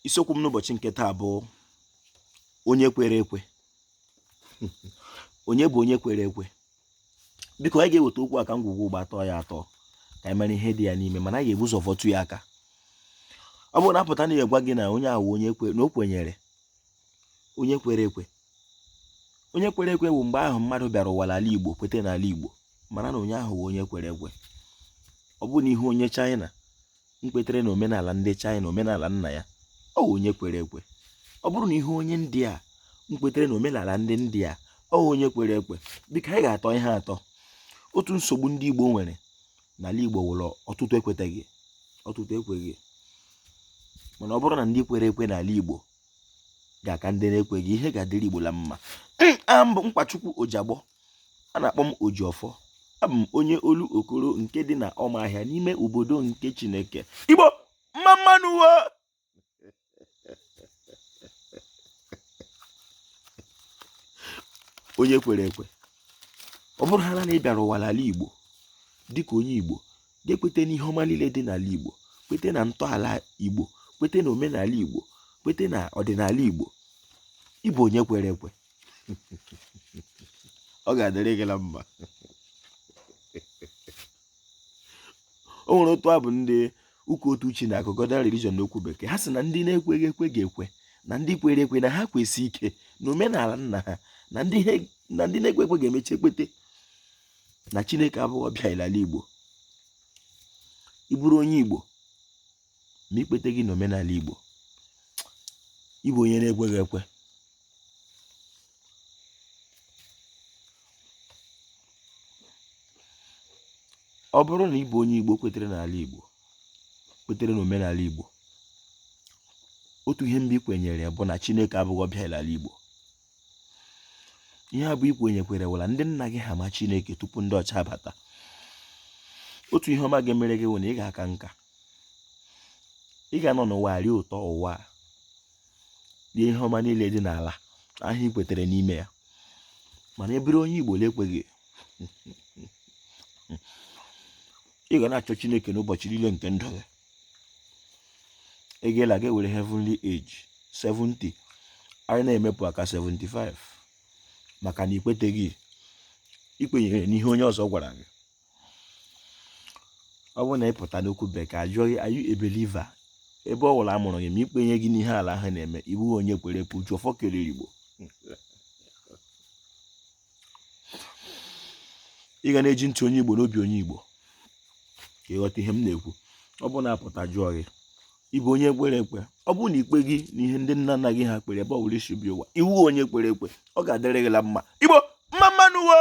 isiokwu m n'ụbọchị nke taa bụ onye kwere ekwe onye bụ onye kwere ekwe biko anyị ga-eweta okwu a ka ngwugwu ụgba tọọ ya atọ ka anyị mara ihe dị ya n'ime mana anyị ga-ebu ụzọ vọtụ ya aka ọ bụrụ na a pụta na-agwa gị na onye ahụ onye kwe na o kwenyere onye kwere ekwe onye kwere ekwe bụ mgbe ị hụ mmadụ bịara ụwa n'ala Igbo kweta n'ala Igbo mara na onye ahụ bụ onye kwere ekwe ọ bụ na ị hụ onye China kwetere na omenala ndị China omenala nna ya ọ wụ onye kwere ekwe ọ bụrụ na ị hụ onye India kwetere na omenala ndị India ọ wụ onye kwere ekwe biko anyị ga-atọ ihe atọ otu nsogbu ndị Igbo nwere n'ala Igbo wụ la ọtụtụ ekweteghị ọtụtụ ekweghị mana ọ bụrụ na ndị kwere ekwe n'ala Igbo ga-aka ndị na-ekweghị ihe ga-adịrị Igbo la mma m bụ Nkwachukwu Ojiagbọ a na-akpọ m Ojiọfọ abụ m onye Olokoro nke dị na Ọmahịa n'ime obodo nke Chineke Igbo mma mma nụ wo onye kwere ekwe ọ bụrụhala na ị bịara ụwa n'ala Igbo dịka onye Igbo gị ekweta n'ihe ọma niile dị n'ala Igbo kweta na ntọala Igbo kweta na omenala Igbo kweta na ọdịnala Igbo ị bụ onye kwere ekwe ọ ga-adịrị gị na mma o nwere otu abụ ndị ụka otu chi na-agụ Godian religion n'okwu bekee ha sị na ndị na-ekweghị ekwe ga-ekwe na ndị kwere ekwe na ha kwesie ike na omenala nna ha na ndị na-ekwe ekwe ga-emecha kwete na chineke abụghị ọbịa l'ala igbo ị bụrụ onye igbo ma i kweteghị n'omenala Igbo ị bụ onye na-ekweghị ekwe ọ bụrụ na ị bụ onye Igbo kwetere n'ala Igbo kwetere n'omenala Igbo otu ihe mbụ i kwenyere bụ na Chineke abụghị ọbịa l'ala Igbo ihe abụọ i kwenyekwere wụ la ndị nna gị ha ma chineke tupu ndị ọcha bata otu ihe ọma ga-emere gị wụ na ị ga-aka nka ị ga-anọ n'ụwa rie ụtọ ụwa rie ihe ọma niile dị n'ala ahụ i kwetere n'ime ya mana ị bụrụ onye igbo na-ekweghị ị ga na-achọ chineke n'ụbọchị niile nke ndụ gị ị ga-ala ga ewere heavenly age 70 anyị na-emepụ aka 75 maka na i kweteghị i kwenyere n'ihe onye ọzọ gwara gị ọ bụrụ na ị pụta n'okwu bekee a jụọ gị are you a believer ebe ọ wụla a mụrụ gị ma i kwenyeghị n'ihe ala ahụ na-eme ị bụghị onye kwere ekwe Ojiọfọ kelere igbo ị ga na-eji ntị onye igbo na obi onye igbo ka ị ghọta ihe m na-ekwu ọ bụ na a pụta jụọ gị ị bụ onye kwere ekwe ọ bụ na i kpeghị na ihe ndị nna nna gị ha kpere ebe ọ bụla isi bi ụwa ị wụ onye kwere ekwe ọ ga-adịrị gị la mma igbo mma mma nụ o